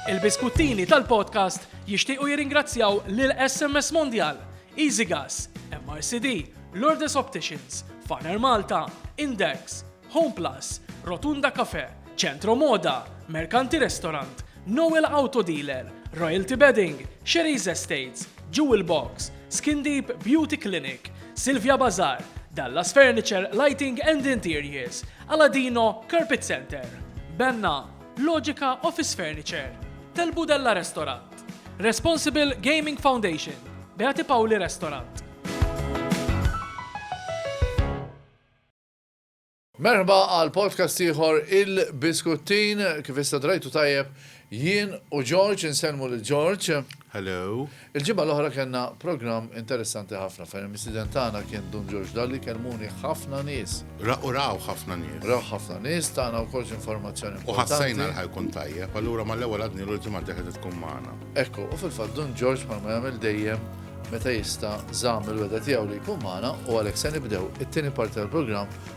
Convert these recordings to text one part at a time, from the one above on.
Il-biskuttini tal-podcast jixtiequ jirringrazzjaw lil SMS Mondial, EasyGas, MRCD, Lourdes Opticians, Faner Malta, Index, Home Plus, Rotunda Cafe, Centro Moda, Mercanti Restaurant, Noel Auto Dealer, Royalty Bedding, Sherry's Estates, Jewel Box, Skin Deep Beauty Clinic, Silvia Bazar, Dallas Furniture Lighting and Interiors, Aladino Carpet Center, Benna, Logica Office Furniture, Tel Budella Restaurant, Responsible Gaming Foundation, Beati Pauli Restaurant. Merħba għal podcast ieħor il-Biskuttin, kif issa drajtu tajjeb jien u George, insellmu lil George. Hello. Il-ġimgħa l-oħra kellna programm interessanti ħafna fejn il-mistieden tagħna kien Dun George Dalli kellmuni ħafna nies. Ra u rawh ħafna nies. Rawh ħafna nies, tana wkoll xi informazzjoni importanti. U ħassejna li ħajkun tajjeb, allura mal-ewwel għadnilu l-ġimgħa d-dieħla se tkun magħna. Ekku, u fil-fatt Dun George bħalma jagħmel dejjem meta jista' żamm il-wegħda tiegħu li jkun magħna u għalhekk se nibdew it-tieni parti tal-programm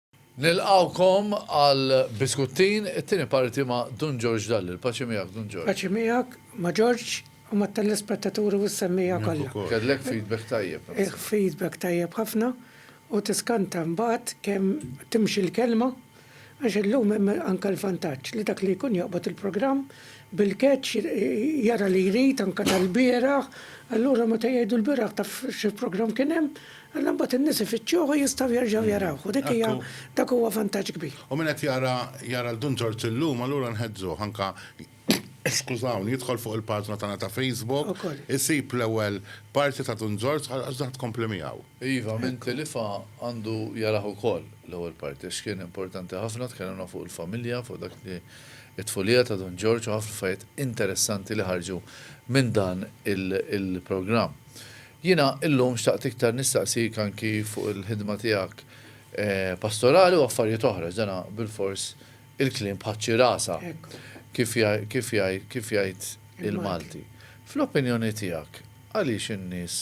Nilqgħukom għal biskuttin, it-tieni parti ma' Dun Ġorġ Dalli. Il-paċi miegħek, Dun Ġorġ. Paċi miegħek, ma' Ġorġ, u mat-telespettaturi u s-semmiegħa kollha. Miegħek ukoll. Kellek feedback tajjeb. Feedback tajjeb ħafna u tiskanta mbagħad kemm timxi l-kelma għax illum hemm anke l-vantaġġ li dak li jkun joqbod il-programm bil-catch jara li jrid anke tal-bieraħ, allura meta jgħidu l-bieraħ taf xi programm kien hemm, Alla mbagħad in-nies ifittxuh u jistgħu jerġgħu jarawh u dik hija dak huwa vantaġġ kbir. U min qed jara jara 'l Dun Ġorġ illum allura nħeġġuh anke skużawni jidħol fuq il-paġna tagħna ta' Facebook isib l-ewwel parti ta' Dun Ġorġ għax dak tkompli miegħu. Iva min tilifha għandu jarah ukoll l-ewwel parti għax kien importanti ħafna tkellimna fuq il-familja fuq dak li t-tfulija ta' Dun Ġorġ u ħafna affarijiet interessanti li ħarġu minn dan il-programm. Jiena illum xtaqt iktar nistaqsik anki fuq il-ħidma tiegħek pastorali u affarijiet oħra, għax dana bilfors il-kliem tħaċċi rasha, kif jgħid il-Malti. Fl-opinjoni tiegħek, għaliex in-nies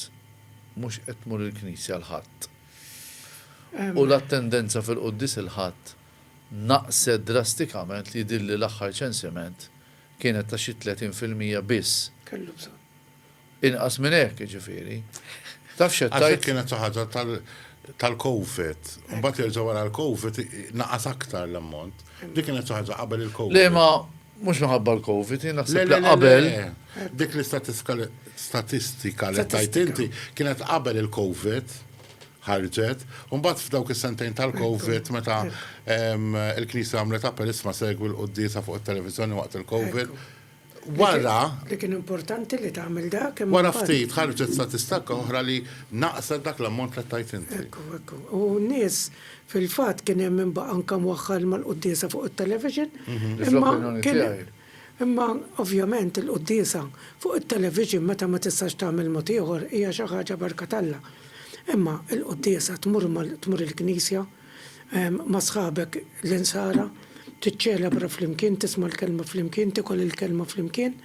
mhux qed tmur il-knisja l-Ħadd? U l-attendenza fil-quddies il-Ħadd naqset drastikament li jidhirli l-aħħar ċensiment kienet ta' xi tletin fil-mija biss. Inqas minn hekk, jiġifieri. Taf x'qed tgħid? Għax kienet xi ħaġa tal-COVID. Imbagħad jerġa' wara l-COVID naqas aktar l-ammont. Dik kienet xi ħaġa qabel il-COVID. Le ma mhux minħabba l-COVID, jien naħseb li qabel. Dik l-istatistika li tajt inti kienet qabel il-COVID ħarġet, u mbagħad f'dawk is-sentejn tal-COVID meta il-Knisja għamlet appell isma' segwi l-quddiesa fuq it-televiżjoni waqt il-COVID. Wara. Li kien importanti li tagħmel dak imma. Wara ftit ħarġet statistakka oħra li naqset dak l-ammont li tajt inti. Ekku, ekku. U n-nies fil-fatt kien hemm min baqa' anke mwaħħal mal-quddiesa fuq it-television. Imma kien hemm. Imma ovvjament il-quddiesa fuq it-television meta ma tistax tagħmel mod ieħor hija xi ħaġa barka t'Alla. Imma l-quddiesa tmur tmur il-knisja. ma' sħabek l-Insara, tiċċelebra flimkien, tisma' l-Kelma flimkien, tikol il-Kelma flimkien.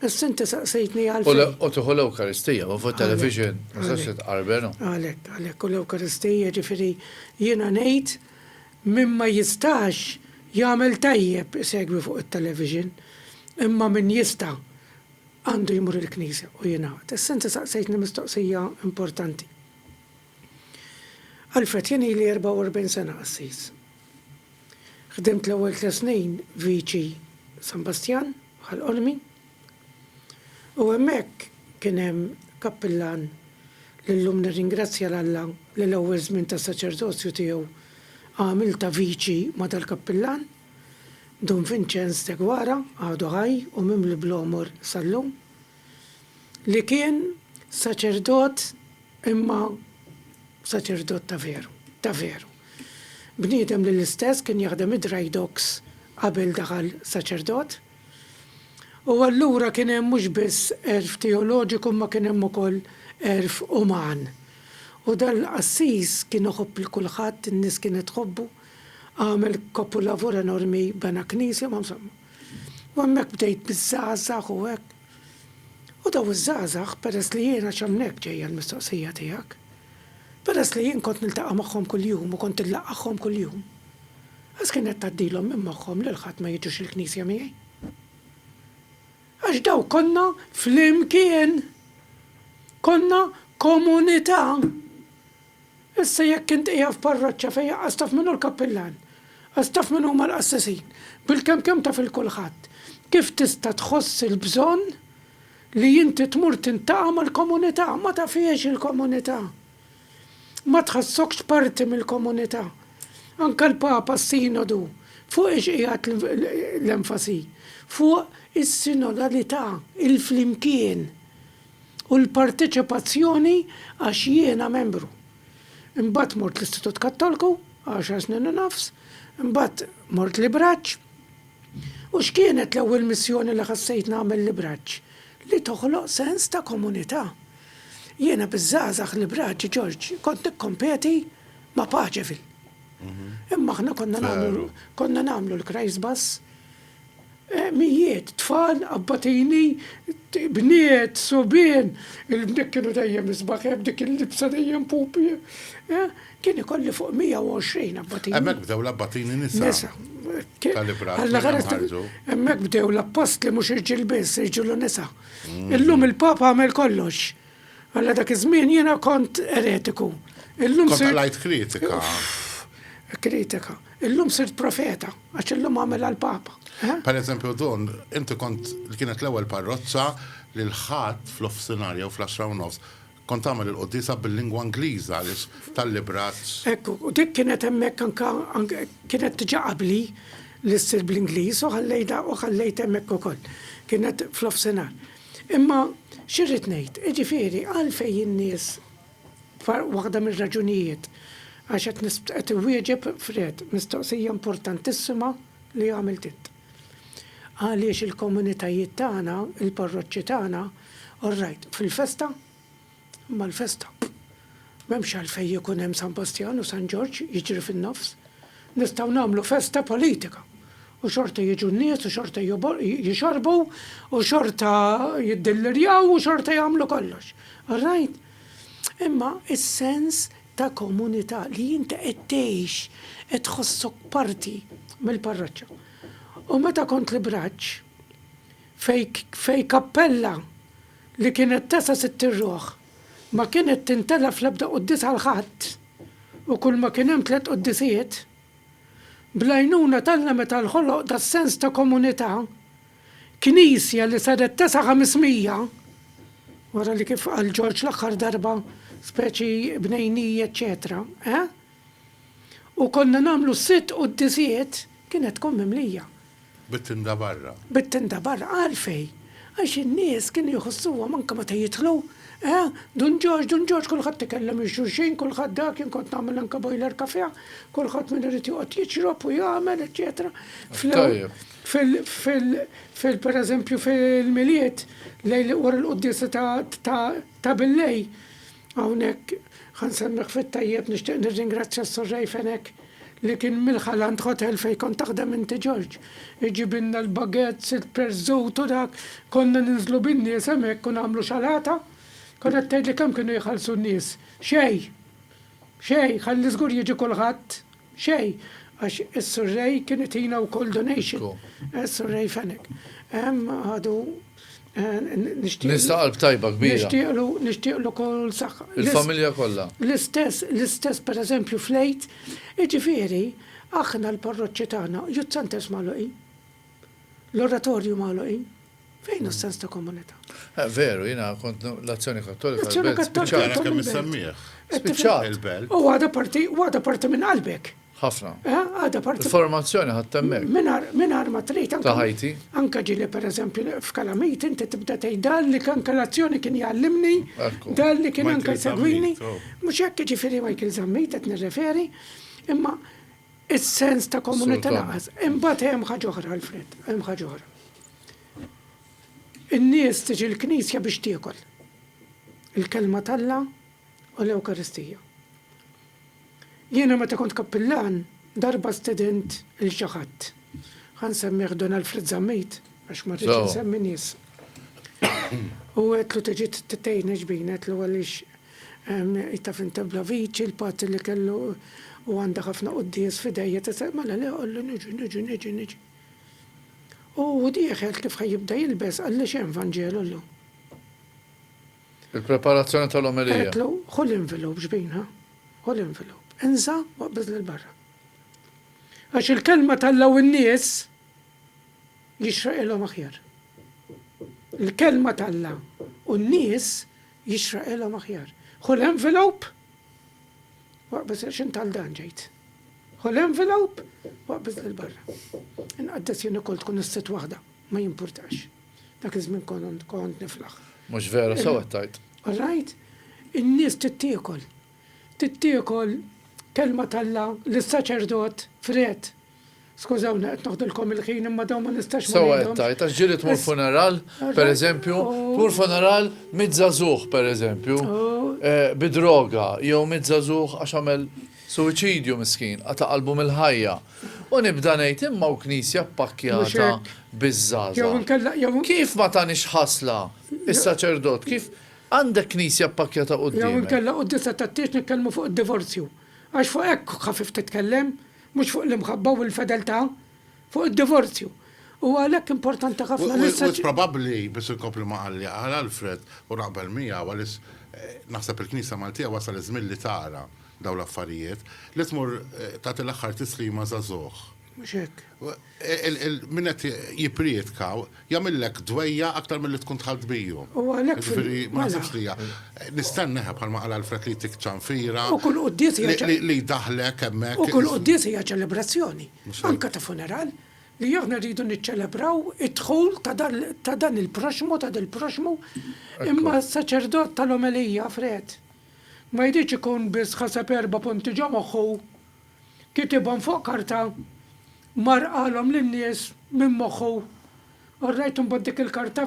Issa inti saqsejtni għalfejn. U tieħu l-Ewkaristija, u fuq television, ma sax titqarben. Għalhekk, għalhekk, u l-Ewkaristija ġifieri jiena ngħid min ma jistax jagħmel tajjeb isegwi fuq it-television, imma min jista' għandu jmur il-knisja u jingħaqad. Issa inti saqsejtni mistoqsija importanti. Alfred, Jien ili 44 sena qassis. Ħdimt l-ewwel tliet snin viċi San Bastjan bħal qolmi. U hemmhekk kien hemm kappillan li llum nirringrazzja 'l Alla li l-ewwel żmien ta' saċerdozju tiegħu għamilt ta' viċi ma' dal-kappillan, Dun Vinċenz Deguara, għadu ħaj u mimli bl-għomor sal-lum. li kien saċerdot imma saċerdot ta' veru, ta' veru. Bniedem li l-istess kien jaħdem id-dry docks qabel daħal saċerdot. U allura kien hemm mhux biss għerf teoloġiku imma kien hemm ukoll għerf uman. U dal-qassis kien iħobb 'l kulħadd, in-nies kienet tħobbu, għamel kopulavur enormi, bena knisja, ma insomma. U hemmhekk bdejt biż-żgħażagħ u hekk. U dawn iż-żgħażagħ, peress li jien, għax hemmhekk ġejja l-mistoqsija tiegħek, peress li jien kont niltaqa' magħhom kuljum u kont inlaqqagħhom kuljum, għax kienet tgħaddilhom minn moħħhom lil ħadd ma jiġux il-knisja miegħi? Għax dawk konna flimkien! Konna komunità! Issa jekk int qiegħed f'parroċċa fejn aqqas taf min hu l-kappillan, aqqas taf min huma l-qassesin, bil-kemm kemm taf 'il kulħadd, kif tista' tħoss il-bżonn li inti tmur tintaqa' mal-komunità? Ma tafhiex il-komunità. Ma tħassokx parti mill-komunità. Anke l-Papa s-Sinodu, fuq ix qiegħed l-enfasi? Fuq is-sinodalità, il-flimkien. u l-parteċipazzjoni għax jiena membru. Imbagħad mort l-Istitut Kattolku, għaxar snin u nofs, imbagħad mort Libraġġ. U x'kienet l-ewwel missjoni li ħassejt nagħmel Libraġġ? Li toħloq sens ta' komunità. Jiena biż-żgħażagħ Libraġġ, Ġorġ, kont nikkompeti ma' Paċeville. Imma aħna konna nagħmlu l-Christbus, Mijiet, tfal, abbatini, bniet, subien, il-bniet kienu dejjem isbaħ, dik il-libsa dejjem pupi. Kien ikolli fuq 120 abbatini. Hemmhekk bdew l-abbatini nisa. Hemmhekk bdew l-appostli mhux irġiel biss, irġiel u nisa. Illum il-Papa għamel kollox. Alla dak iż-żmien jiena kont eretiku. Illum Kont għalajt kritika. Kritika. Illum sirt profeta, għax illum għamel għal-Papa. Eh? Per eżempju, dun, inti kont li kienet l-ewwel parroċċa li l-ħadd fl-offsinar jew fl-10 u nofs kont għamel il-qoddisa bil-lingwa Ingliża li tal-libraċ. Ekku, u dik kienet hemmhekk anka kienet tiġa qabli li ssir bl-Ingliż u ħallejda u ħallejt hemmhekk ukoll. Kienet fl-offsinar. Imma x'irrid ngħid, jiġifieri għalfejn in-nies waħda mir-raġunijiet għax qed qed iwieġeb Fred mistoqsija importantissima li għamilt int. Għaliex il-komunitajiet tagħna, il-parroċċi tagħna, orrajt, fil-festa, mal-festa. M'hemmx għalfejn ikun hemm San Bastjan u San Ġorġ jiġri fin-nofs. Nistgħu nagħmlu festa politika u xorta jiġu n-nies u xorta jixorbu u xorta jiddillirjaw u xorta jagħmlu kollox. All right? Imma is-sens ta' komunità li inti qed tgħix, qed tħossok parti mill-parroċċa. U meta kont l-Ibraġġ, fej kappella li kienet tesa' sitt irruħ, ma kienet tintelef fl-ebda quddies għal ħadd, u kulma kien hemm tliet quddisijiet. Bl-għajnuna t'Alla meta nħoloq das-sens ta' komunità, Knisja li saret tesa' ħamismija, wara li kif qal Ġorġ l-aħħar darba speċi bnejniji eċċetera, eh? u konna nagħmlu sitt quddisijiet, kienet tkun mimlija. Bit-tinda barra. Bit-tinda barra. Għalfejn? Għax in-nies kienu jħossuhom anke meta jidħlu, eh, Dun Ġorġ, Dun Ġorġ, kulħadd ikellem lil xulxin, kulħadd dak, jien kont nagħmel anke boiler cafè, kulħadd min irid joqgħod jixrob u jagħmel, eċċetera. Fil, pereżempju, fil-Milied, lejl wara l-quddiesa ta' billejl, Hawnhekk ħa nsemmik fit-tajjeb nixtieq nirringrazzja s-Surrej Fenech li kien mill-Ħalant Hotel fejn kont taħdem inti Ġorġ. Iġibilna l-baguettes, il-perżut u dak, konna ninżlu bin-nies hemmhekk u nagħmlu xalata. Kont qed tgħidli kemm kienu jħallsu n-nies. Xejn! Xejn! Ħalli żgur jiġi kulħadd. Xejn, għax is-Surrey kien itina wkoll donation. Surrey Fenech. Għadu nixtieq. Nista' qalb tajba kbira. Nixtieqlu, nixtieqlu kull saħħa. Il-familja kollha. L-istess, l-istess pereżempju fl-Għid. Jiġifieri, aħna l-parroċċi tagħna, Youth Centres magħluqin. L-oratorju magħluqin. Fejn hu s-sens ta' komunità? Eh, veru, jiena kont l-Azzjoni Kattolika. L-Azzjoni Kattolika. Għara kemm nsemmih. Spiċċat. Il-belt. U għada parti, għada parti minn qalbek. Ħafna. Eh, għada parti. Informazzjoni ħattemmek. Minar ma trid. Ta' ħajti. Anka ġili per eżempju f'kalamit inti tibda tgħid dan li kan kalazzjoni kien jgħallimni, dan li kien anka jsegwini. Mhux hekk ġifieri Michael Zammit qed nirreferi, imma Is-sens ta' komunità lanqas. Imbagħad hemm ħaġa oħra, Alfred, hemm ħaġa oħra. In-nies tiġi l-Knisja biex tiekol. Il-Kelma t'Alla u l-Ewkaristija. Jiena meta kont kappillan, darba stedint lil xi ħadd. Ħa nsemmih Don Alfred Zammit, għax ma rridx insemmi nies. U għedtlu tiġi tgħinni x'bin, għedtlu għaliex It-taf int ebla viċi, l-pazzi li kellu u għandha ħafna quddies f'idejha tisel, mela le qollu niġi, niġi, niġi, niġi. U hu dieħel kif ħa jibda jilbes qalli x'hemm Vanġelu llum. Il-preparazzjoni tal-omelija. Għedtlu ħu l-envelop xbinha, ħu l-envelop, inża' u aqbeż lil barra. Għax il-kelma t'Alla u n-nies jixraqilhom aħjar. Il-kelma t'Alla u n-nies jixraqilhom aħjar. Ħu l-envelope u aqbeż għax int għal dan ġejt. Ħu l-envelope u aqbeż lil barra. Inqaddes jien ukoll tkun is-sitt waħda, ma jimpurtax. Dak iż-żmien kont niflaħ. Mhux vera sew qed tgħid. All right? In-nies tittiekol. Tittiekol kelma t'Alla lis-saċerdot fred Skużawni qed noħdilkom il-ħin imma dawn ma nistax ma ngħidhomx. Sewwa qed tgħid, għax ġieli tmur funeral, pereżempju, tmur funeral mitt żagħżugħ pereżempju, bi droga, jew mitt żagħżugħ għax għamel suwiċidju miskin, qata' qalbu mill-ħajja. U nibda ngħid imma hawn knisja ppakkjata biż-żgħażagħ. Kif ma tagħnix ħasla s-saċerdot, kif għandek knisja ppakkjata quddiemhek? Jew inkella quddiesa tat-tieġ nitkellmu fuq id-divorzju. Għax fuq hekk ħafif titkellem, Mhux fuq l-imħabba u l-fedeltà, fuq id-divorzju. Huwa għalhekk importanti ħafna li s-soċ. U probabbli, biss inkompli ma qal li qal Alfred u naqbel miegħu għaliex naħseb il-Knisja Maltija wasal iż-żmien li tara dawn l-affarijiet, li tmur tagħti l-aħħar tislima żagħżugħ. Mhux hekk. Min qed jipprietka jagħmillek dwejjaq aktar milli tkun dħalt biju. Jiġifieri ma naħsibx li hija. Nistenna eħe bħalma qal Alfred li jtik ċanfira. U kull quddies hija. Li jdaħħlek hemmhekk. U kull quddies hija ċelebrazzjoni. Anke ta' funeral. Li aħna rridu niċċelebraw id-dħul ta' dan il-proxxmu, ta' dil-proxxmu. Imma s-saċerdot tal-omelija, Fred, ma jridx ikun biss ħaseb erba' punti ġo moħħu. Kitibhom fuq karta, mar qalhom lin-nies minn moħħu. Orrajt imbagħad dik il-karta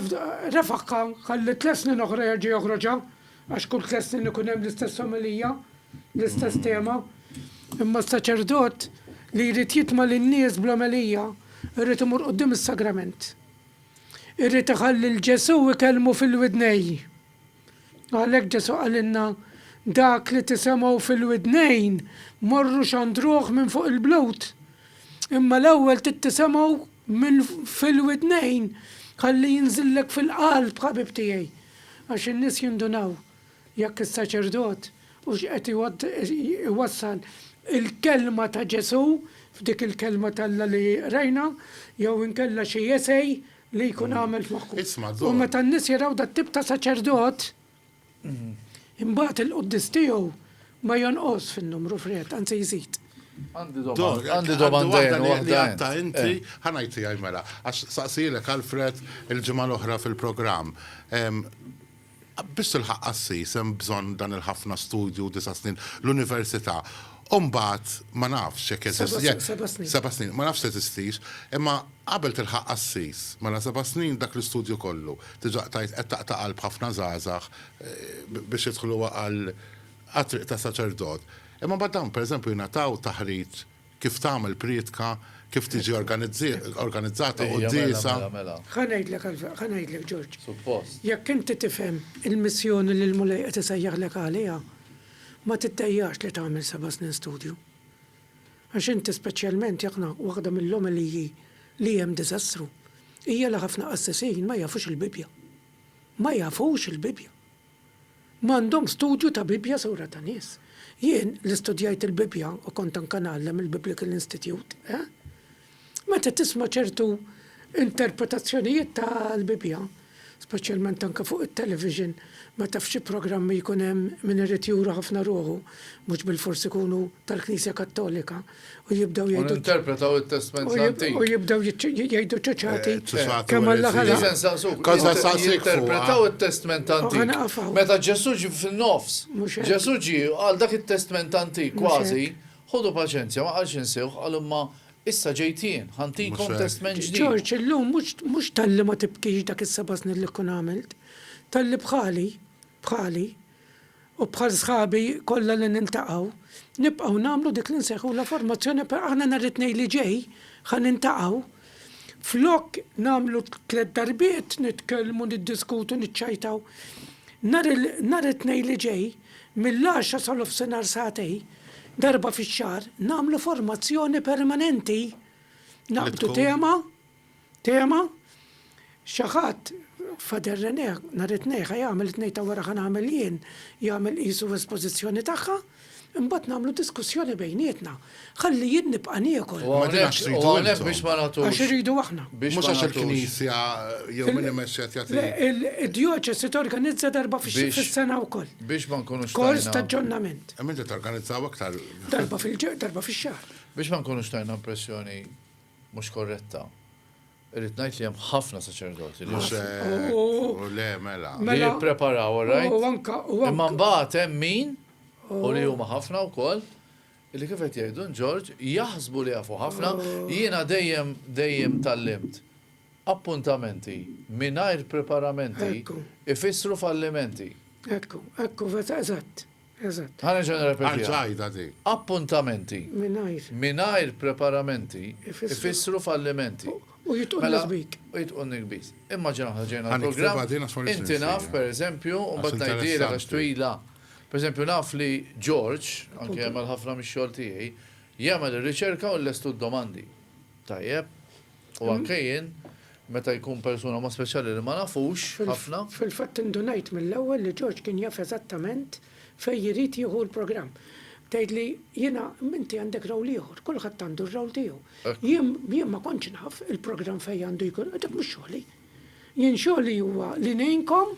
refagħha, ħalli tliet snin oħra jerġa' joħroġha, għax kull tliet snin ikun hemm l-istess omelija, l-istess tema. Imma s-saċerdot li jrid jitma' lin-nies bl-omelija jrid imur quddiem is-sagrament. Irid iħalli 'l Ġesù jkellmu fil-widnejh. Għalhekk Ġesù qalilna, Dak li tisemgħu fil-widnejn, morru xandruh minn fuq il-blut. Imma l-ewwel trid tisemgħu minn fil-widnejn ħalli jinżillek fil-qalb, ħabib tiegħi. Għax in-nies jindunaw jekk is-saċerdot hux qed iwassal il-kelma ta' Ġesù f'dik il-Kelma t'Alla li qrajna jew inkella xi essay li jkun għamel f'moħħu. U meta n-nies jaraw dat-tip ta' saċerdot, imbagħad il-quddies tiegħu ma jonqos fin-numru fred, anzi jżid. Għandi domanda li għatta inti, eh. ħanajti għaj mela, għax saqsilek Alfred il-ġimgħa l-oħra fil-programm. Biex tilħaq qassis hemm bżonn dan il-ħafna studju, disa' snin, l-università. U mbagħad ma nafx jekk jeżisti, jekk. Seba' snin, seba' snin. Seba' snin, ma nafx teżistix, imma qabel tilħaq qassis, mela seba' snin dak l-istudju kollu. Diġà qtajt, qed taqta' qalb ħafna żgħażagħ biex jidħlu għal għat-triq ta' saċerdot. Imma mbagħad dawn, pereżempju, jingħataw taħriġ. Kif tagħmel prietka, kif tiġi organizzata quddiesa. Ħa ngħidlek għal, ħa ngħidlek Ġorġ. Suppost. Jekk inti tifhem il-missjoni li l-Mulej qed isejjaħlek għaliha, ma tiddejjax li tagħmel seba' snin studju. Għax inti speċjalment jekk na, waħda mill-omeliji li hemm diżastru hija li ħafna qassisin ma jafux il-Bibbja. Ma jafux il-Bibbja! M'għandhom studju ta' Bibbja sewra ta' nies. Jien, li studjajt il-Bibbja u kont anke ngħallem il-Biblical Institute, eh? Meta tisma' ċertu interpretazzjonijiet tal-Bibbja, speċjalment anke fuq it-television, meta f'xi programmi jkun hemm min irid juru ħafna ruħu, mhux bilfors ikunu tal-Knisja Kattolika, u jibdew jgħidu. U interpretaw it-testment antik. U jibdew jgħidu ċaċati. Kemm għalla ħala. Kaza saqsik. Interpretaw it-testment antik. Meta Ġesu ġi fil-nofs. Ġesu ġi għal dak it-testment antik kważi. Ħodu paċenzja, ma qalx insewħ, għal imma issa ġejt jien, ħantikom testment ġdid. Ġorġ, illum mhux talli ma tibkix dak is-seba' snin li kkun għamilt, talli bħali bħali u bħal sħabi kollha li niltaqgħu, nibqgħu nagħmlu dik li nsejħulha formazzjoni per aħna nhar it-Tnejn li ġej ħa niltaqgħu, flok nagħmlu tliet darbiet nitkellmu, niddiskutu, niċċajtaw, nhar il, nhar it-Tnejn li ġej mill-għaxra sal-ofsinhar sagħtej, darba fix-xahar, nagħmlu formazzjoni permanenti, naqbdu tema, Tema, Xi ħadd, Fader René, nhar it-Tnejn ħa jagħmel it-tnejn ta' wara ħa nagħmel jien, jagħmel qisu espożizzjoni tagħha, imbagħad nagħmlu diskussjoni bejnietna. Ħalli jien nibqa' niekol. U hawnhekk biex ma nagħtux. Għax iridu aħna. Mhux għax il-Knisja jew min imexxi qed jagħti. Le, id-djoċesi torganizza darba fis-sena wkoll. Biex ma nkunux. Kors ta' aġġornament. Imma inti torganizzaw aktar. Darba fil-ġimgħa, darba fix-xahar. Biex ma nkunux tajna impressjoni mhux korretta. Irrid ngħid li hemm ħafna saċerdoti li le mela. Li mela. jippreparaw orajt. Imma mbagħad hemm min u li huma ħafna wkoll li kif qed jgħidu Ġorġ jaħsbu li jafu ħafna jiena dejjem dejjem tallimt appuntamenti mingħajr preparamenti ifissru fallimenti. Ekku, ekku, eżatt. Eżatt. Ħa nerġa' nirrepetiha. Arġa' għidha di. Appuntamenti. Mingħajr. Mingħajr preparamenti. Ifissru fallimenti. U jitqu n-nikbit. U jitqu n-nikbit. Immaġina aħna ġejna l-programm. Inti naf, per eżempju, u mbagħad ngħidilek għax twila. Per eżempju, naf li George, anke jagħmel ħafna mix-xogħol tiegħi, jagħmel ir-riċerka u jlestu d-domandi. Tajjeb? U anke jien, meta jkun persuna mod speċjali li ma nafux ħafna. Fil-fatt indunajt mill-ewwel li George kien jaf eżattament fejn irid jieħu l-programm. Tgħidli, jiena, inti għandek role ieħor, kulħadd għandu r-role tiegħu. Jien ma kontx naf il-programm fejn għandu jkun, dak mhux xogħli. Jien xogħli huwa li ngħinkom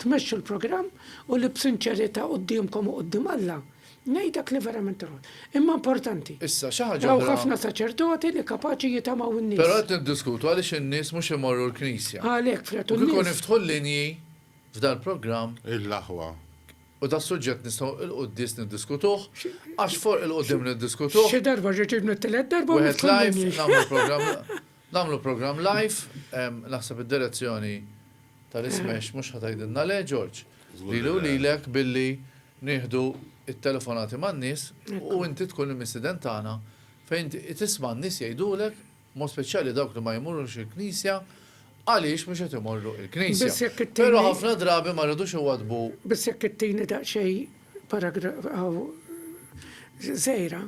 tmexxu l-programm u li b'sinċerità quddiemkom u quddiem Alla, ngħid dak li verament irrid. Imma importanti. Issa, xi ħaġa oħra. Hawn ħafna saċerdoti li kapaċi jitamaw in-nies. Però qed niddiskutu għaliex in-nies mhux imorru l-knisja. Għalhekk, fl-għedt u n-nies. U kieku niftħu l-linji f'dal-programm. Il-aħwa. U das-suġġett nistgħu 'l quddies niddiskutuh, għax for 'il quddiem niddiskutuh. Xi darba ġejt ngħid it-tielet darba u niftħu l-linji. Wieħed live nagħmlu l-programm. Nagħmlu programm live, naħseb id-direzzjoni tal-ismash mhux ħa tgħidilna le, George. Lili u lilek billi nieħdu t-telefonati man-nies u inti tkun il-mistieden tagħna fejn inti tisma' n-nies jgħidulek, b'mod speċjali dawk li ma jmurux il-knisja, għaliex mhux qed imorru l-knisja. Però ħafna drabi ma rridux iwaddbu. Biss jekk ittini daqsxejn paragrafu żgħira.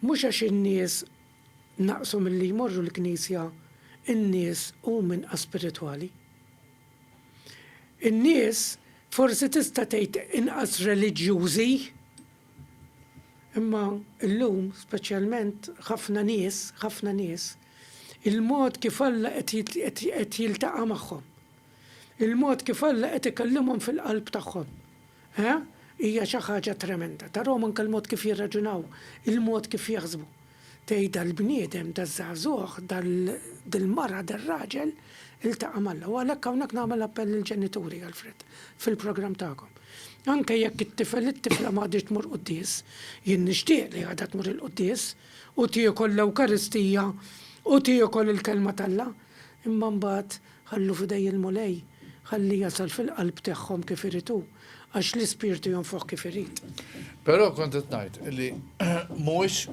Mhux għax in-nies Naqsu milli jmorru l-knisja n-nies huma inqas spiritwali. In-nies forsi tista' tgħid inqas reliġjużi. Imma llum speċjalment ħafna nies, ħafna nies, il-mod kif Alla qed jiltaqa' magħhom. Il-mod kif Alla qed ikellimhom fil-qalb tagħhom, eh, hija xi ħaġa tremenda. Tarahom anke l-mod kif jirraġunaw, il-mod kif jaħsbu. Tgħid dal-bniedem, daż-żagħżugħ, dal, dil-mara, dar-raġel iltaqa' m'Alla. U għalhekk hawnhekk nagħmel appell lill-ġenituri, Alfred, fil-programm tagħkom. Anke jekk it-tifel, it-tifla m'għadhiex tmur quddies, jien nixtieq li għadha tmur il-quddies u tiekol l-Ewkaristija u tiekol il-Kelma t'Alla, imma mbagħad, Ħallu f'idej il-Mulej, ħalli jasal fil-qalb tagħhom kif irid hu, għax l-Ispirtu jonfoħ kif irid. Però kont qed ngħid li mhuwiex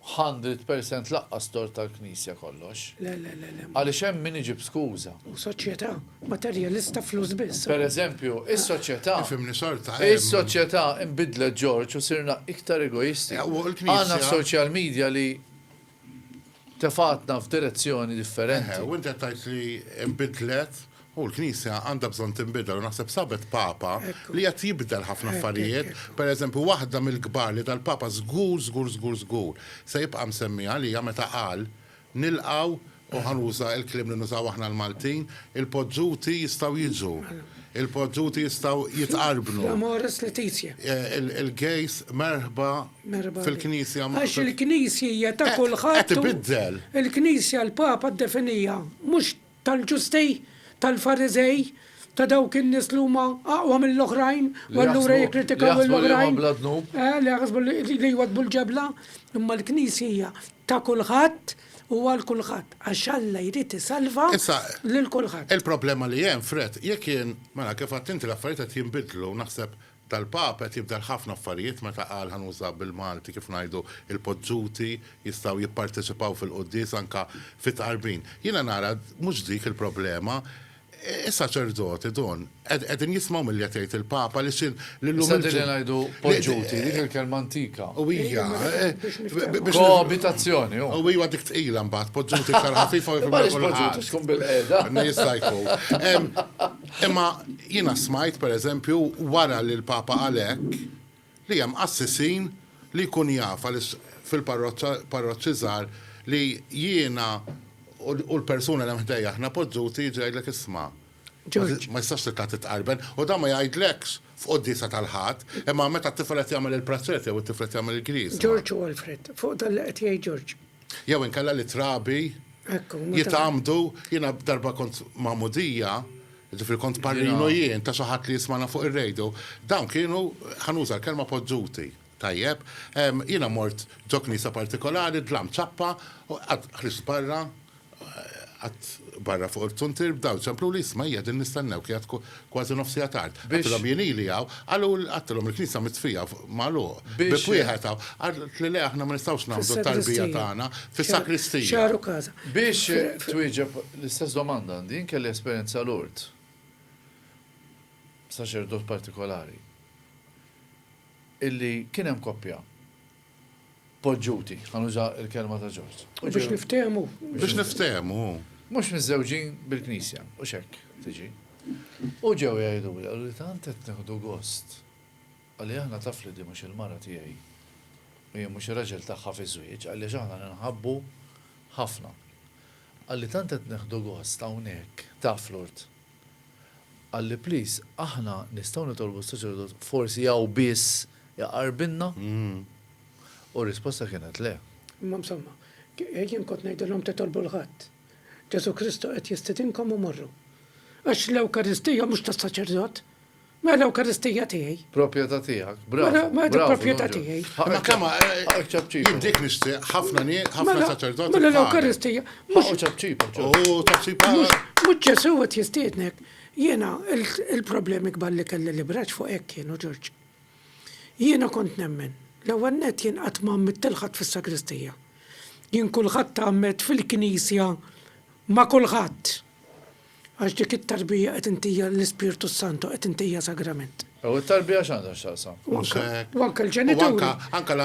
hundred percent laqqas tort tal-Knisja kollox. Le, le, le, le. Għaliex hemm min iġib skuża. U soċjetà materjalista flus biss. Per eżempju, is-soċjetà. Ifhimni xorta. Is-soċjetà nbidlet Ġorġ u sirna iktar egoisti. Għandna social media li tefgħatna f'direzzjoni differenti. Eħe, u inti qed tgħid li nbidlet, u l-Knisja għandha bżonn tinbidel u naħseb sabet Papa li qed jibdel ħafna affarijiet, pereżempju waħda mill-kbar li dal-Papa żgur, żgur, żgur, żgur se jibqa' msemmi għalija meta qal, nilqgħu, u ħa nuża l-kliem li nużaw aħna l-Maltin, il-poġġuti jistgħu jiġu, il-poġġuti jistgħu jitqarbnu, il-gejs merħba Merħba. Fil-Knisja ma. Għax il-Knisja hija ta' kulħadd. Qed ibiddel. Il-Knisja l-Papa ddefinija mhux tal-ġusti, tal-Fariżej, ta' dawk in-nies li huma aqwa mill-oħrajn, u allura jikkritikaw lill-oħrajn. Li jaħsbu li jwaddbu l-ġebla. Imma l-Knisja hija ta' kulħadd u għal kulħadd, għax Alla jrid isalva lil kulħadd. Il-problema li hemm, Fred, jekk jien, mela kif għedt inti l-affarijiet qed jinbidlu, naħseb tal-Papa qed jibdel ħafna affarijiet meta qal ħa nuża bil-Malti kif ngħidu il-podżuti jistgħu jipparteċipaw fil-quddies anke fit-tqarbin. Jiena nara mhux dik il-problema. Is-saċerdoti, Dun, qegħdin jismgħu milli qed jgħid il-Papa għaliex il, li llum Issa din li ngħidu podżuti, dik il-kelma antika. U hija, biex. Koabitazzjoni, hu. U hija dik tqila mbagħad, podżuti iktar ħafifa u jifhimha kulħadd. Imma għaliex podżuti x'tkun bilqiegħda? Jista' jkun. Imma jiena smajt, per eżempju, wara li l-Papa qal hekk, li hemm qassisin li jkun jaf għaliex fil-parroċċi żgħar li jiena u l-persuna li hemm ħdejja aħna poġġuti jiġi jgħidlek isma', ma tistax titla' titqarben u dan ma jgħidlekx f'quddiesa tal-Ħadd, imma meta t-tifel qed jagħmel il-praċert jew it-tifel qed jagħmel il-griż. Ġorġ u Alfred, fuq dan li qed jgħid Ġorġ, Jew inkella li t-trabi jitgħammdu, jiena darba kont magħmudija, jiġifieri kont parrinu jien ta' xi ħadd li jismagħna fuq ir-radio, dawn kienu, ħa nuża l-kelma poġġuti, tajjeb? Jiena mort ġo knisja partikolari, dlamt ċappa u qatt ħriġt barra Qatt barra fuq il-fzuntier bdaw ċempluli, isma' hija din nistennewk qiegħed kważi nofs siegħa tard. Għedtilhom jien ili hawn, qalu għedtilhom il-knisja mitfija magħluq, bieb wieħed hawn. Qaltli le aħna ma nistgħux nagħmlu t-tarbija tagħna fis-sakristija. Biex twieġeb l-istess domanda għandi jien kelli esperjenza Lourdes. Saċerdot partikolari. Illi kien hemm koppja. poġġuti, ħa nuża l-kelma ta' Ġorġ. U biex niftehmu. Biex niftehmu. Mhux miżżewġin bil-Knisja, u x'hekk tiġi. U ġew jgħiduli, qaluli tant qed nieħdu gost li aħna taf li din mhux il-mara tiegħi u jien mhux ir-raġel tagħha fiż-żwieġ għaliex aħna ninħabbu ħafna. Qalli tant qed nieħdu gost hawnhekk taf Lourdes. Qalli please aħna nistgħu nitolbu s-saċerdot forsi hawn biss iqarbilna? U r-risposta kienet le. Imma msomma, jien kont ngħidilhom titolbu 'l ħadd. Ġesù Kristu qed jistidinkom u morru. Għax l-Ewkaristija mhux tas-saċerdot, Ma l-Ewkaristija tiegħi. Proprjetà tiegħek. Bravo. Ma dik proprjetà tiegħi. Ma kemm jien dik nixtieq ħafna ħafna saċerdoti. Mela l-Ewkaristija. Mhux ċapċipa. U ċapċipa. Mhux Ġesù qed jistiednek. Jiena il-problemi kbar li kelli li braġġ fuq hekk kienu Ġorġ. Jiena kont nemmen. L-ewwel nett jien qatt ma għammidt lil ħadd fis-sagristija. Jien kulħadd għammed fil-knisja ma' kulħadd. Għax dik it-tarbija qed intija l-Ispirtu s-Santu, qed intija sagrament. U t-tarbija x'għandha x'taqsam? U anke hekk. U anke l-ġenituri.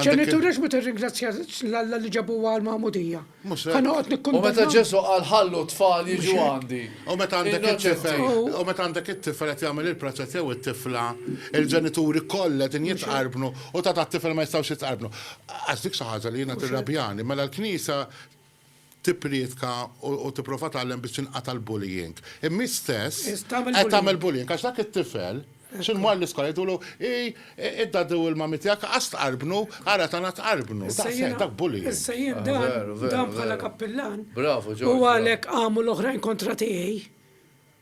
Ġenituri għax ma tirringrazzjax lil Alla li ġabuha għall-magħmudija. Mhux hekk. Ħa noqgħod nikkundanna. U meta Ġesù qal ħallu t-tfal jiġu għandi. U meta għandek it-tifel, u meta għandek it-tifel qed jagħmel il-proċess jew it-tifla, il-ġenituri kollha qegħdin jitqarbnu u ta' tat-tifel ma jistgħux jitqarbnu. Għax dik xi ħaġa li jiena tirrabjani. Mela l-Knisja tipprietka u tipprova tgħallem biex tinqata' l-bullying. Imma hi stess qed tagħmel bullying għax dak it-tifel xi jmur l-iskola jgħidulu, Ej, id-daddy u l-mummy tiegħek qas tqarbnu, ara tagħna tqarbnu. Daqshekk, dak bullying. Issa jien dan, dan bħala kappillan, u għalhekk qamu l-oħrajn kontra tiegħi.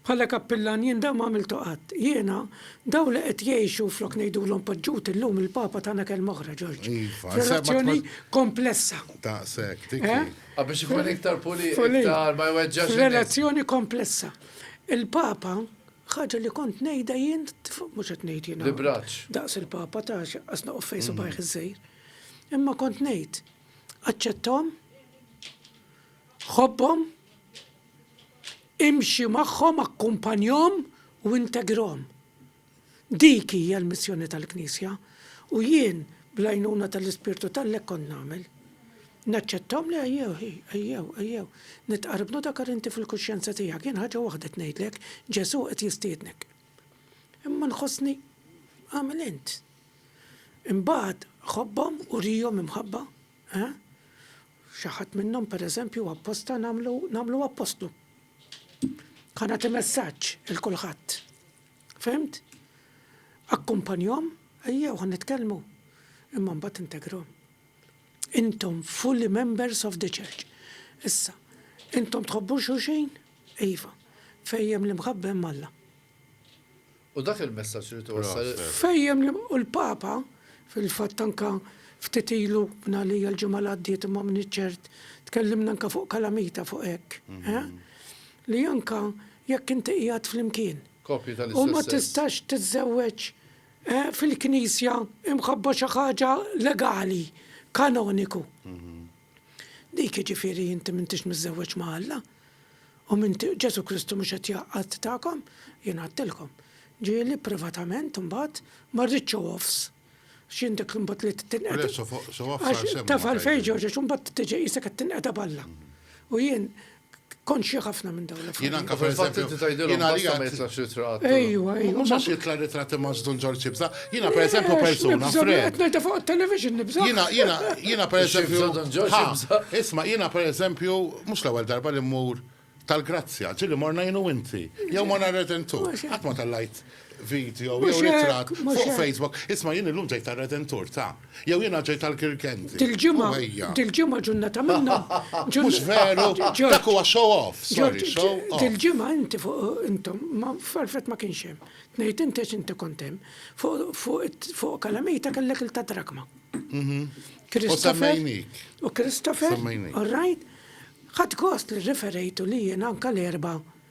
Bħala kappillan jien dan ma għamiltu qatt. Jiena, dawn li qed jgħixu flok ngħidulhom poġġut illum il-Papa tana kelma oħra, Ġorġ. F'relazzjoni komplessa. Daqshekk, dik hi. Ah, biex ikun iktar pulit, iktar ma jweġġax in-nies. F'relazzjoni komplessa. Il-Papa, ħaġa li kont ngħidha jien, mhux qed ngħid jiena. L-ibraċċ. Daqs il-Papa ta' x'inqas noqgħod fejn subgħajh iż-żgħir. Imma kont ngħid, aċċetthom, ħobbhom, Imxi magħhom, akkumpanjahom u integrahom. Dik hija l-missjoni tal-Knisja u jien, bl-għajnuna tal-Ispirtu t'Alla hekk kont nagħmel. Naċċettahom li ejjew, ejjew, ejjew, nitqarbnu dakar inti fil-kuxjenza tiegħek, jien ħaġa waħda qed ngħidlek, Ġesù qed jistiednek. Imma nħossni agħmel int. Imbagħad ħobbhom, urihom imħabba, eh? Xi ħadd minnhom, pereżempju, apposta nagħmlu nagħmlu appostlu. Ħa nagħti messaġġ il kulħadd. Fimt? Akkumpanjhom, ejjew ħa nitkellmu. Imma mbagħad integrhom. Intom fully members of the church. Issa, intom tħobbu xulxin? Iva. Fejjem l-imħabba hemm Alla. U dak il-messaġġ irid iwassal il-. Fejjem li u l-Papa, fil-fatt anke ftit ilu, minn għalija l-ġimgħa li għaddiet imma m'iniex ċert, tkellimna anke fuq kalamita fuq hekk, eh, li anke jekk inti qiegħed flimkien. Koppji tal-istess sess. U ma tistax tiżżewweġ, eh, fil-Knisja imħabba xi ħaġa legali, kanoniku. Dik jiġifieri inti m'intix miżżewweġ ma' Alla, u m'inti u Ġesù Kristu mhux qed jgħaqqad tagħkom, jien għedtilkom. Ġieli, privatament, imbagħad, ma rridx show offs. X'jien dik imbagħad li tinqeda. Le, show offs għal xejn. Taf għalfejn, George, għax imbagħad tiġi qisek qed tinqeda b'Alla. U jien Konxja ħafna minn dawn l-affarijiet. Jien anke fil-fatt inti tgħidilhom basta ma jitlaqx ritratt. Ejwa, ejwa. Mhux għax jitla' ritratti ma' Żdun Ġorġ Ibża. Jiena pereżempju persuna fred. Qed ngħidha fuq it-television nibża'. Jiena, jiena, jiena pereżempju. Żdun Ġorġ Ibża. Isma' jiena pereżempju mhux l-ewwel darba li mmur tal-Grazzja, ġieli morna jien u inti. Jew morna r-Redentur. Qatt ma tellgħajt video jew Mhux hekk, ritratt mhux fuq hekk. Facebook, isma' jien illum ġejt tar-Redentur, ta! Jew jiena ġejt għall-Kirkendi. Dil-ġimgħa, U ejja. dil-ġimgħa ġurnata minnhom. ġurn- Mhux veru? Ġorġ, Dak huwa show off, sorry, Ġorġ, show off. dil-ġimgħa inti fuq intom, ma f'Alfred ma kienx hemm. Tnejt inti għax inti kont hemm. Fuq fuq it- fuq Kalamita kellek il-Tadrakma. Christopher- semmejnik. U Christopher, Semmejnik. all right? Ħadt gost li rriferejtu li jiena anke l-Erbgħa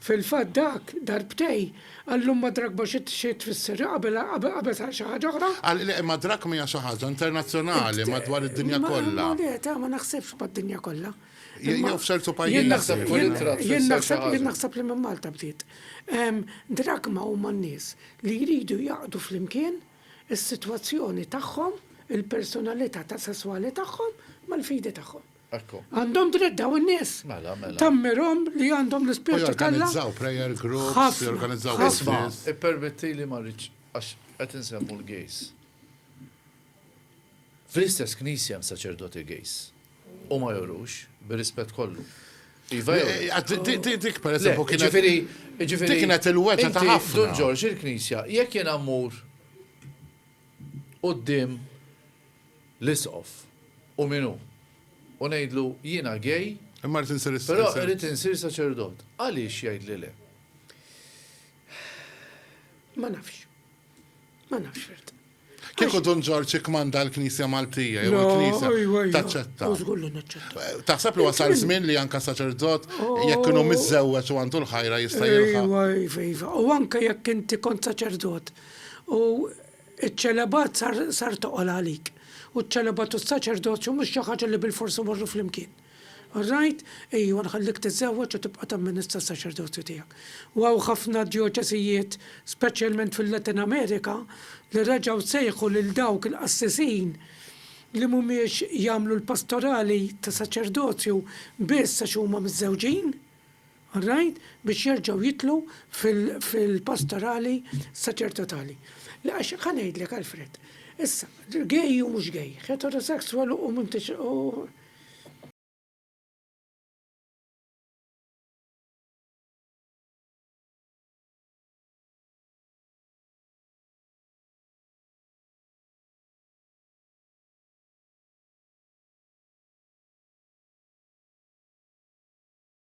Fil-fatt dak, darbtej, għallhom madrak ma xi xi tfisser, qabel qabel sar xi ħaġa oħra. Għal le, madrak mija xi ħaġa internazzjonali madwar id-dinja kollha. Ma le, ta' ma naħsibx mad-dinja kollha. Je jew f'ċertu pajjiżi. Jien naħseb kull ittra tfisser xi ħaġa. Jien naħseb jien naħseb li minn Malta bdiet. Drakma huma n-nies li jridu jgħaqdu flimkien is-sitwazzjoni tagħhom, il-personalità ta' sesswali tagħhom mal-fidi tagħhom. Ekku. Għandhom dritt daw in-nies. Mela, mela. Tammirhom li għandhom l-ispirtu tal Jorganizzaw prayer groups, jorganizzaw Isma, ippermetti li ma rridx għax qed insemmu l-gejs. Fl-istess knisja hemm saċerdoti gejs. U ma jorux, bir-rispett kollu. Iva, eh, eh, dik per eżempju kienet. Ġifieri, ġifieri. Kienet il-weta ta' ħafna. Dun Ġorġ il-knisja, jekk jien ammur qudiem l-Isqof, U min hu? U ngħidlu, Jiena gay, però irrid insir saċerdot. Għaliex jgħidli le? Ma nafx. Ma nafx fil-fatt. Kieku Dun Ġorġ ikkmanda l-Knisja Maltija jew il-Knisja taċċetta. Żgur li naċċetta. Eh, taħseb li wasal żmien li anka saċerdot oh. jekk kienu miżżewweġ u għandu l-ħajra jista' jilħaq. U anke jekk inti kont saċerdot u Iċ-ċelebat sar sar toqol għalik, u ċ-ċelebat u s-saċerdozju mhux xi ħaġa li bilfors imorru flimkien. All right, ejwa nħallik tiżżewweġ u tibqa' tamministra s-saċerdozju tiegħek. U hawn ħafna djoċesijiet, speċjalment fil-Latin Amerika, li reġgħu sejħu lil dawk il-qassisin li mhumiex jagħmlu l-pastorali ta' saċerdozju biss għax huma miżżewġin. Rajt biex jerġgħu jidħlu fil-pastorali sa ċerta tali. Le għax ħa ngħidlek Alfred. Issa, gay u mhux gay, heterosexual u m'intix u.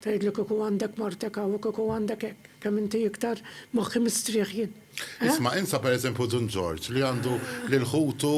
Tgħidlu kieku għandek martek hawn u kieku għandek hekk, kemm inti iktar moħħi mistrieħ jien. Eh? Isma' insa pereżempju Dun Ġorġ li għandu lil ħutu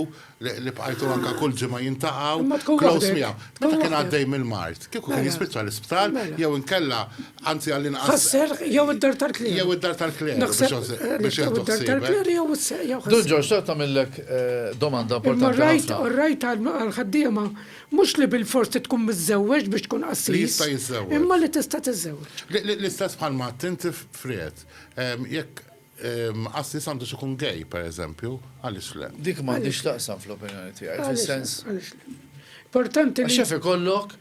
li bqajtu anka kull ġimgħa jintaqgħu. Close miegħu. Meta kien għaddej mill-mart, kieku kien jispiċċa l-isptar mela. jew inkella Anzi għall-inqas. Ħasser jew id-dar tal-kler. Jew id-dar tal-kler. Biex jew id-dar tal-kler jew ħasser. Dun Ġorġ, xtaqt tagħmillek eh, domanda importanti. Rajt, rajt għal-ħaddiema mhux li bil-fors tkun miżżewweġ biex tkun qassis. Jista' jiżżewweġ. Imma li tista' tiżżewweġ. L-istess bħal ma tinti friet. Ehm, jekk ehm, qassis għandu xikun gej, per eżempju, għaliex le. Dik m'għandix taqsam fl-opinjoni tiegħi, fis-sens. Importanti li. Xef ikollok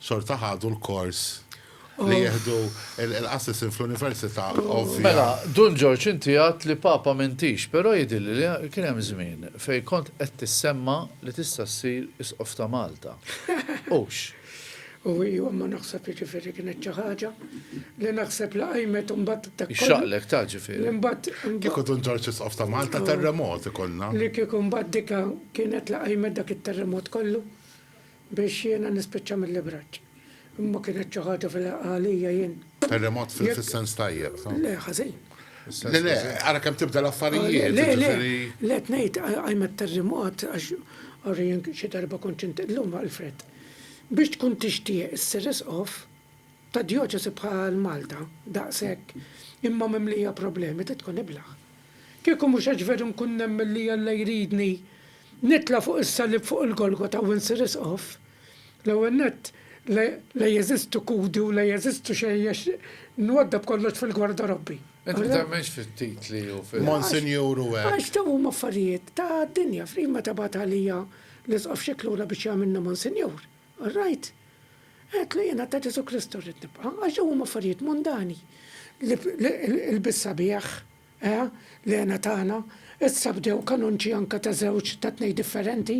xorta ħadu l-kors li jieħdu l-assissin fl-università ovvja. Mela, Dun Ġorġ inti għedt li Papa m'intix, però jidhirli li kien hemm żmien fejn kont qed tissemma li tista' ssir Isqof ta' Malta. Hux? U ijwa ma naħseb jiġifieri kienet xi ħaġa li naħseb li qajmet imbagħad dak kollu. Ixxaqlek ta' ġifieri. Li mbagħad. Kieku Dun Ġorġ Isqof ta' Malta terremot ikollna. Li kieku mbagħad dika kienet li qajmet dak it-terremot kollu. Biex jiena nispiċċa mill-ibraġġ. Imma kienet xi ħaġa fil-ħaqqa għalija jien. Terremot fis-sens tajjeb, ta'. Le, ħażin. Le, le, ara kemm tibda l-affarijiet, jiġifieri. Le, le, qed ngħid, qajmet terremot għax ara jien xi darba kont xi llum Alfred. Biex tkun tixtieq issir Isqof ta' djoċesi bħal Malta, daqshekk, imma mimlija problemi trid tkun iblah. Kieku mhux għax veru nkun nemmen li Alla jridni nitla' fuq is-salib fuq il-Golgota u nsir Isqof, l-ewwel nett la jeżistu kudi u la jeżistu xejn għax nwaddab kollox fil-gwarda Robbi. Inti temmenx fit-titli u fil-. Monsinjur u hekk. Għax dawn huma affarijiet ta' dinja. F'ħin meta bagħat għalija l-Isqof Scicluna biex jagħmilni Monsinjur. All right. Għedtlu jiena ta' Ġesù Kristu rrid nibqa', għax dawn huma affarijiet mundani. Ilbies sabiħ, eħe, l-hena tagħna, issa bdew kanunċi anke ta' żewġ, ta' tnejn differenti,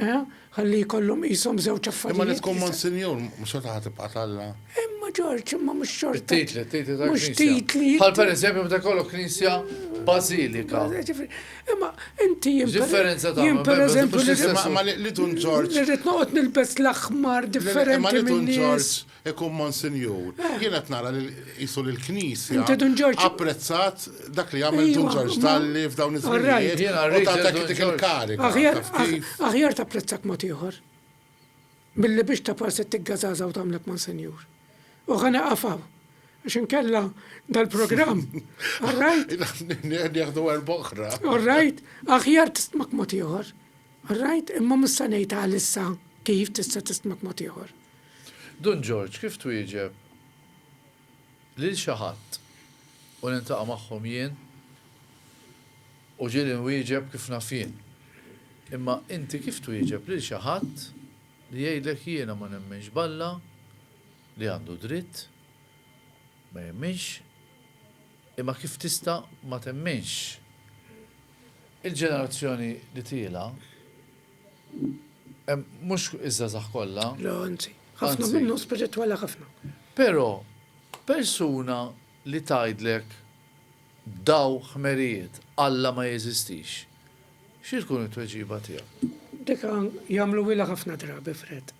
eħe, ħalli jkollhom qishom żewġ affarijiet. Imma li tkun Monsinjur, xorta ħa tibqa' t'Alla. Imma Ġorġ, imma mhux xorta. It-titli, t-titli tal-Knisja. Bħal pereżempju meta jkollok Knisja Bażilika. Imma inti jien. Differenza ta' jien per eżempju li ma li tun Ġorġ. Irrid noqgħod nilbes l-aħmar differenti. Ma li tun Ġorġ ikun Monsinjur. Eh. Jien qed nara li jisu li l-Knisja. Inti tun Ġorġ. Apprezzat dak li għamel tun Ġorġ dalli f'dawn iż-żminijiet. U ta' dak il-kariga. Aħjar tapprezzak mod ieħor. Billi biex tapar se tigga żgħażagħ u tagħmlek Monsenjur. U ħa neqaf hawn. Għax inkella dal-programm. All right? Nieħdu erba' oħra. All right? Aħjar tistmak mod ieħor. All right? Imma mhux se ngħid għalissa kif tista' tistmak mod ieħor. Dun Ġorġ, kif twieġeb? lil xi ħadd u niltaqa' magħhom jien u ġieli nwieġeb kif naf jien. Imma inti kif twieġeb lil xi ħadd li jgħidlek jiena ma nemminx b'Alla li għandu dritt ma jemminx imma kif tista' ma temminx? Il-ġenerazzjoni li tiela' Mhux iż-żgħażagħ kollha. Le anzi. Ħafna minnhom spiritwali ħafna. Però persuna li tgħidlek b'daw ħmerijiet Alla ma jeżistix, xi tkun it-tweġiba tiegħek? Dik jagħmluhilha ħafna drabi Fred.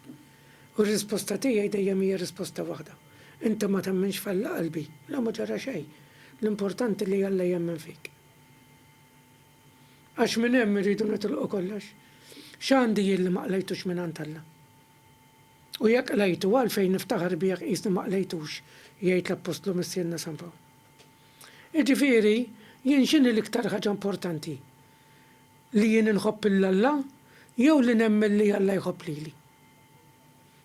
U r-risposta tiegħi dejjem hija risposta waħda. Inti ma temminx f'Alla qalbi? Le ma ġara xejn. L-importanti li Alla jemmen fik. Għax minn hemm irridu nitilqu kollox. X'għandi jien li ma qlejtux mingħand Alla? U jekk qlejtu, għalfejn niftaħar bih jekk qisni ma qlejtux, jgħid l-Appostlu Missierna San Pawl. Jiġifieri, jien x'inhi l-iktar ħaġa importanti? Li jien inħobb 'l Alla jew li nemmen li Alla jħobb lili?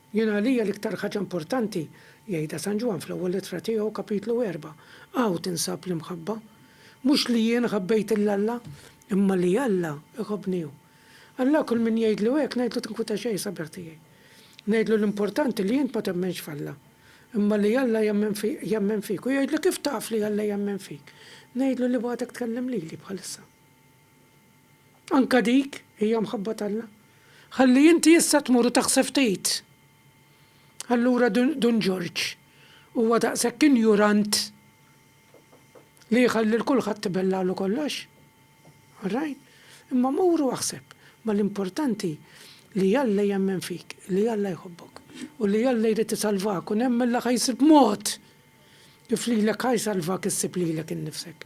Jien għalija l-iktar ħaġa importanti, jgħidha San Ġwann fl-ewwel ittra tiegħu, kapitlu erbgħa, hawn tinsab l-imħabba. Mhux li jien ħabbejt 'l Alla, imma li Alla iħobbni hu. Alla kull min jgħidlu hekk ngħidlu tinkwita xejn sabiħ tiegħi. Ngħidlu l-importanti li int ma temmenx f'Alla, imma li Alla jemmen fik. Hu jgħidli kif taf li Alla jemmen fik? Ngħidlu li b'għadek tkellem lili bħalissa. Anke dik hija mħabba t'Alla. Ħalli inti issa tmur u taħsef tgħid, Allura Dun Ġorġ huwa daqshekk injurant li jħalli 'l kulħadd ibellagħlu kollox? All right. Imma mur u aħseb. Ma l-importanti li Alla jemmen fik, li Alla jħobbok, u li Alla jrid isalvak u nemmen li ħa jsib mod kif lilek ħa jsalvak issib lilek innifsek.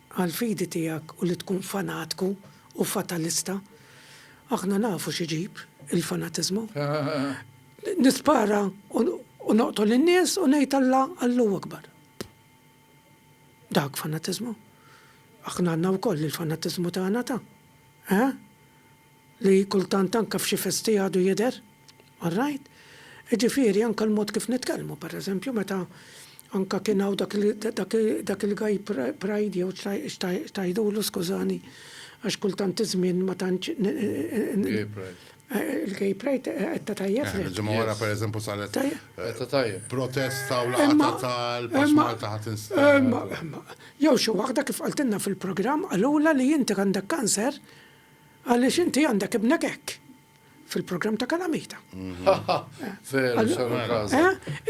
għall-fidi tiegħek u li tkun fanatku u fatalista. Aħna nafu x'iġib il-fanatiżmu. Nispara u noqtol in-nies u ngħid Alla Allahu Akbar. Dak fanatiżmu. Aħna għandna wkoll il-fanatiżmu tagħna ta'. Eħe? li kultant anke f'xi festi għadu jidher, all right, jiġifieri anke l-mod kif nitkellmu, pereżempju meta anke kien hawn dak il-gay pride jew x'tgħidulu skużani għax kultant iż-żmien ma tantx Gay pride. Il-gay pride qedta tajjeb le. Il-ġimgħa wara pereżempju saret qedta tajjeb. Protesta u laqgħa tal-Post Malta ħadd instab. Jew xi waħda kif qaltilna fil-programm qalulha li inti għandek kanser Għaliex inti għandek ibnek hekk fil-programm ta' kalamita. Veru, xarru kaza.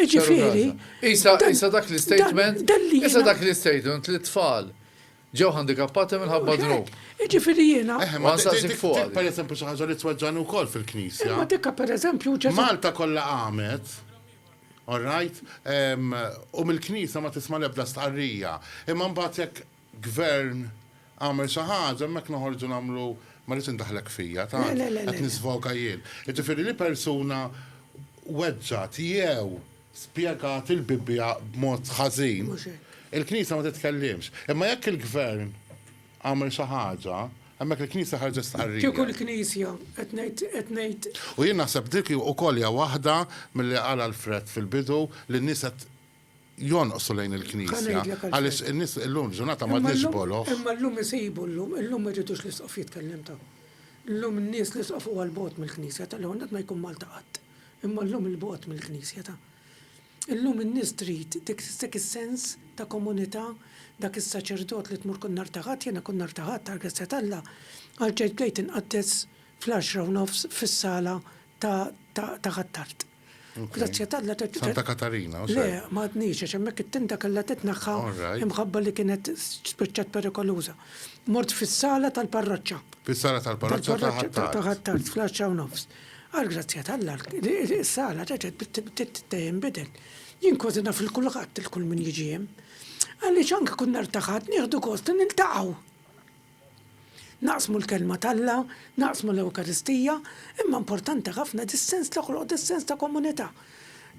Iġifiri. Isa, isa dak l-statement. Isa dak l-statement li tfal ġew handikappati minħabba dnub. Iġifiri jena. Eh, ma nsaqsik fuq. Per eżempju, xi ħaġa li tweġġan ukoll fil-knisja. Ma dikka per eżempju ġew. Malta kollha għamet. All right? U mill-knisja ma tisma' l-ebda stqarrija. Imma mbagħad jekk Gvern għamel xi ħaġa hemmhekk noħorġu nagħmlu ma rridx indaħħlek fija tant, qed nisfoga jien. Jiġifieri li persuna weġġgħet jew spjegat il-Bibbja b'mod ħażin, il-Knisja ma titkellimx. Imma jekk il-Gvern għamel xi ħaġa, hemmhekk il-Knisja ħarġet stqarrija. Kieku l-Knisja, qed ngħid, qed ngħid. U jien naħseb dik ukoll hija waħda milli qal Alfred fil-bidu li n-nies qed. jonqsu lejn il-Knisja, għaliex in-nies illum il-ġurnata m'għadniex boloh. Imma llum isibu llum, illum ma jridux l-Isqof jitkellem ta'. Llum in-nies l-Isqof huwa 'l bogħod mill-Knisja ta', l-ewwel nett ma jkun Malta qatt, imma llum 'il bogħod mill-Knisja ta'. Illum in-nies trid dak is-sens ta' komunità, dak is-saċerdot li tmur kull nhar ta' Ħadd, jiena kull nhar ta' Ħadd għall-grazzja t'Alla, għall-Ġid bdejt inqaddes fl-għaxra u nofs fis-sala ta' Ħ'Attard. Grazzi għatalla t Santa Katarina, u Le, ma għadnix, għax hemmhekk it-tinta kellha titnaħħa imħabba li kienet spiċċat perikoluża. Mort fis-sala tal-parroċċa. Fis-sala tal-parroċċa ta' Ħattart. Ta' Ħattart, fl-10 u nofs. Għal grazzja t'Alla, is-sala reġgħet tinbidel. Jien kważi naf il kulħadd il kull min jiġi hemm. Għaliex anke kun nhar ta' Ħadd nieħdu gost li niltaqgħu. Naqsmu l-Kelma t'Alla, naqsmu l-Ewkaristija, imma importanti ħafna dis-sens toħloq dis-sens ta' komunità.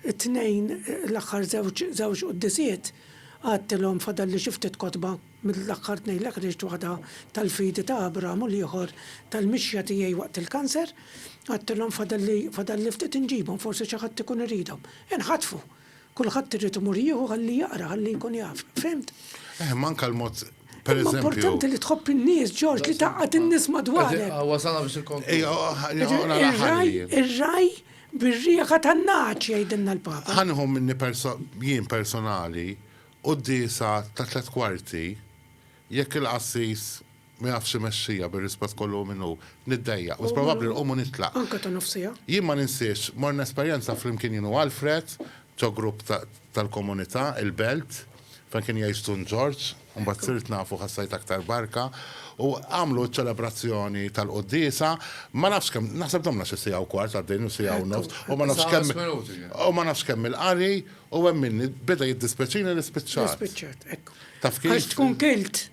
It-Tnejn, l-aħħar żewġ żewġ Quddiesiet, qgħadtilhom fadalli xi ftit kotba mill-aħħar tnejn li ħriġt waħda tal-fidi ta' Abraham u l-ieħor tal-mixja tiegħi waqt il-kanser. Qgħadtilhom fadalli fadalli ftit inġibhom, forsi xi ħadd ikun iridhom. Inħatfu! Kulħadd irid imur jieħu ħalli jaqra, ħalli jkun jaf. Fhimt? Eh, ma anka l-mod Per eżempju. Importanti li tħobb in-nies, Ġorġ, li taqgħad in-nies madwarek. Wasana biex il-konklużjoni. Ir-raj bir-rieħa tan-naċ jgħidilna l-Papa. Ħanħu minni jien personali u d-disa ta' tliet kwarti Jekk il-qassis ma jafx imexxija bir-rispett kollu minn hu, niddejjaq, mhux probabbli nqum u nitlaq. Jien ma ninsiex, morna esperjenza flimkien jien u Alfred, ġo grupp tal-komunità, il-Belt, fejn kien jgħix Dun Ġorġ, imbagħad sirt nafu u ħassajt aktar barka, u għamlu ċ-ċelebrazzjoni tal-quddiesa, ma nafx kemm, naħseb domna xi siegħa u kwart għaddejn jew siegħa u nofs, u ma nafx kemm, u ma nafx kemm il-qari, u hemm minni, beda jiddispjaċini li spiċċat. Taf kif? Għax tkun kilt.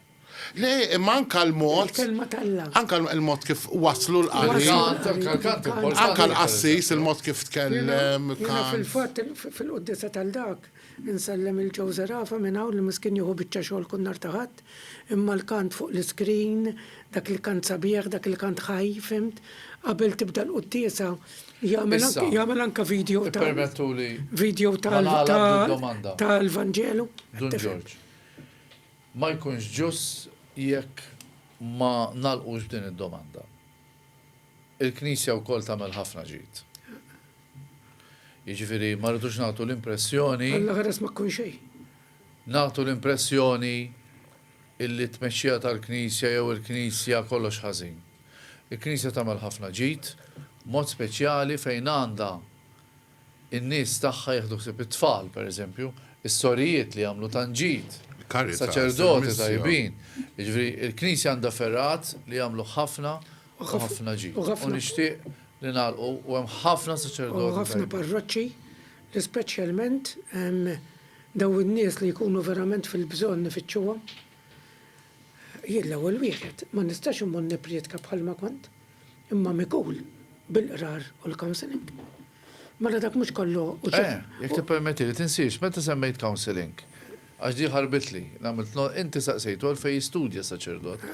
Le, imma anke l-mod. Il-kelma t'Alla. Anke l-mod kif wasslu l-qari. Il-kant, anke l-kant importanti. Anke l-qassis, il-mod kif tkellem. Jiena fil-fatt, fil-quddiesa tal dak, insellem lil Joe Zerafa minn hawn li miskin jieħu biċċa xogħol kull nhar ta' Ħadd, imma l-kant fuq l-iskrin, dak il-kant sabiħ, dak il-kant ħaj, fhimt? Qabel tibda l-quddiesa, Jagħmel anke video ta' video tal-Vanġelu. Dun Ġorġ. Ma jkunx ġust jekk ma nagħlqux b'din id-domanda. Il-Knisja wkoll tagħmel ħafna ġid. Jiġifieri ma rridux nagħtu l-impressjoni. Alla ħares ma tkun xejn. Nagħtu l-impressjoni Illi t-tmexxija tal-Knisja jew il-Knisja kollox ħażin. Il-Knisja tagħmel ħafna ġid, b'mod speċjali fejn għandha n-nies tagħha jieħdu ħsieb it-tfal, pereżempju, is-sorijiet li jagħmlu tant ġid, saċerdoti tajbin. Jiġifieri, il-Knisja għandha fergħat li jagħmlu ħafna u ħafna ġid. U nixtieq li nagħlqu, u hemm ħafna saċerdoti tajbin. U ħafna parroċċi li speċjalment hemm. Dawn in-nies li jkunu verament fil-bżonn nifittxuhom. Jien l-ewwel wieħed ma nistax immur nipprietka bħalma kont, imma mikul bil-qrar u l-counselling. Mela dak mhux kollu hu ċ-. Eh, jekk tippermettili, tinsiex meta semmejt counselling, għax din ħarbitli, li għamilt no, inti saqsejtu għalfejn jistudja saċerdot.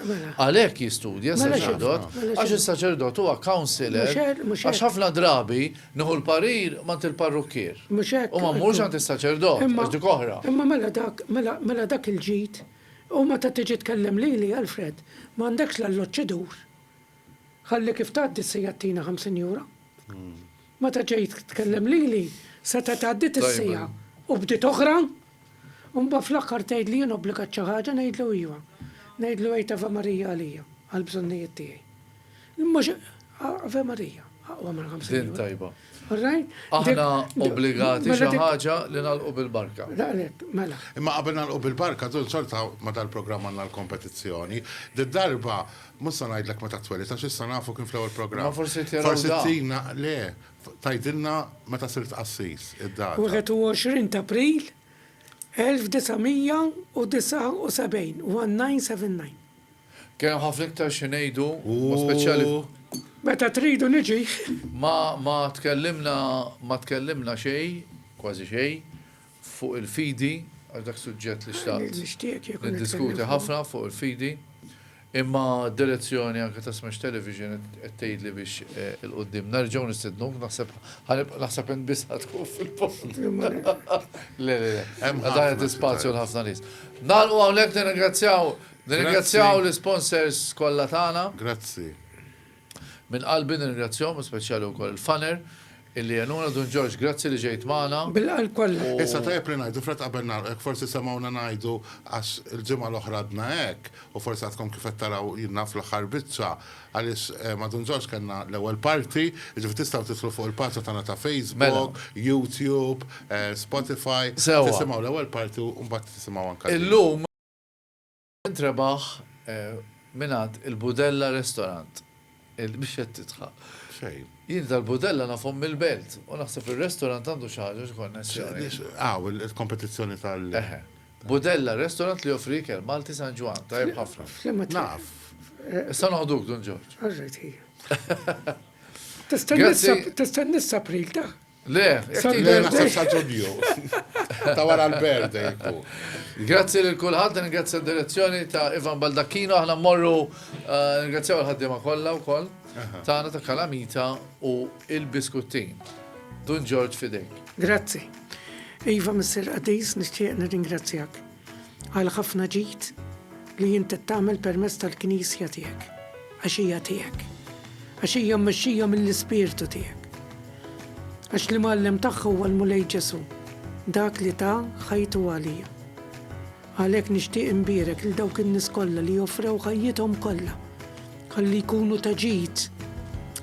Għalhekk jistudja saċerdot, għax is-saċerdot huwa counselor, għax ħafna drabi, Nieħu l-parir m'għand il-parrukkier. Mhux hekk? U ma mmurx għand is-saċerdot, għax dik oħra. Imma mela dak, mela, mela dak il-ġid, u meta tiġi tkellem lili, Alfred, ma għandekx l-alloġġ idur. Ħalli kif tgħaddi se jagħtina ħamsin jura. Meta ġejt tkellem lili, setgħet għaddiet is-siegħa u bdiet oħra. U mbagħad fl-aħħar tgħid li jien obbligat xi ħaġa ngħidlu iva. Ngħidlu għid Ave Maria għalija, għall-bżonnijiet tiegħi. Mhux Ave Maria, aqwa minn 50 euro. Din tajba. Aħna obbligati mela xi ħaġa li nagħlqu bil-barka. Daqlek, mela. Imma qabel nagħlqu bil-barka, dun sorta ma dal-programm għandna l-kompetizzjoni. Did-darba, mhux se ngħidlek meta twelid għax issa nafu kien fl-ewwel programm. Ma forsi tiraw. Forsi tina, le, Tgħidilna meta sirt qassis, id-data. 21 t'April 1979, 1979. Kien hemm ħafna iktar xi ngħidu, mod speċjali. Meta tridu niġi. Ma tkellimna xejn, kważi xejn. fuq il-fidi, għax dak suġġett li xtaqt niddiskuti ħafna fuq il-fidi, imma d-direzzjoni anke ta' Smash Television qed tgħidli biex 'il quddiem nerġgħu nistednuk, naħseb naħseb int biss ħa tkun fil-post. Le, le, le, hemm ħafna spazju għal ħafna nies. Nagħlqu hawnhekk nirringrazzjaw l-isponsors kollha tagħna. Grazzi. Minn qalbi nirringrazzjahom u speċjali wkoll il-funner illi għenuna Dun Ġorġ grazzi li ġejt magħna. Bil-qalb kollha. Issa tajjeb li ngħidu Fred qabel nagħlqu jekk forsi semgħuna ngħidu għax il-ġimgħa l-oħra għadna hekk u forsi għadkom kif qed taraw jien naf l-aħħar biċċa għaliex ma' Dun Ġorġ kellna l-ewwel parti, jiġifieri tistgħu tidħlu fuq il-paġna tagħna ta' Facebook, YouTube, Spotify, tisimgħu l-ewwel parti u mbagħad tisimgħu anke din. Int rebaħ mingħand il-Budella Restaurant. Mhix qed tidħaq. Fejn? Jien dal-Budella nafhom mill-Belt u naħseb ir-restaurant għandu xi ħaġa, xi konnessjoni. Hawn il-kompetizzjoni tal. Eħe. Budella Restaurant li joffri ikel Malti San Ġwann, tajjeb ħafna. F'liema triq? Naf. Issa noħduk, Dun Ġorġ. All right, ejja. Tista' tniss April ta? Le, Sal-birthday. Naħseb sa Ġunju. Ta' wara l-birthday jkun. Grazzi lil kulħadd, ningrazzja d-direzzjoni ta' Ivan Baldacchino, aħna mmorru ningrazzjaw il-ħaddiema kollha wkoll tagħna ta' Kalamita u il-biskuttin. Dun Ġorġ f'idejk. Grazzi. Iva Missier Qadis, nixtieq nirringrazzjak. għal ħafna ġid li int qed tagħmel permezz tal-Knisja tiegħek, għax hija tiegħek, għax hija mmexxija mill-Ispirtu tiegħek. Għax l-Imgħallem tagħha huwa l-Mulej Ġesù, dak li ta ħajtu għalija. Għalhekk nixtieq imbierek lil dawk in-nies kollha li joffrew ħajjithom kollha ħalli jkunu ta' ġid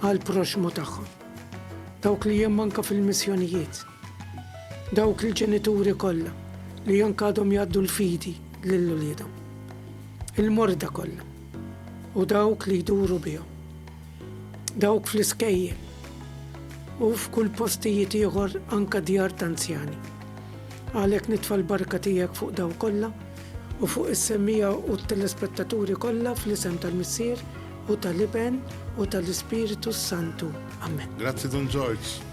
għall-proxmu tagħhom. Dawk li hemm anke fil-missjonijiet. Dawk il-ġenituri kollha li anke għadhom jgħaddu l-fidi lil uliedhom. Il-morda kollha u dawk li jduru bihom. Dawk fl-iskejjel u f'kull postijiet ieħor anke djar ta' anzjani. Għalhekk nitfa' l-barka tiegħek fuq dawn kollha u fuq is-semmiegħa u t-telespettaturi kollha fl-isem tal-Missier u tal-Iben u tal-Ispirtu s-Santu. Amen. Grazzi Dun Ġorġ.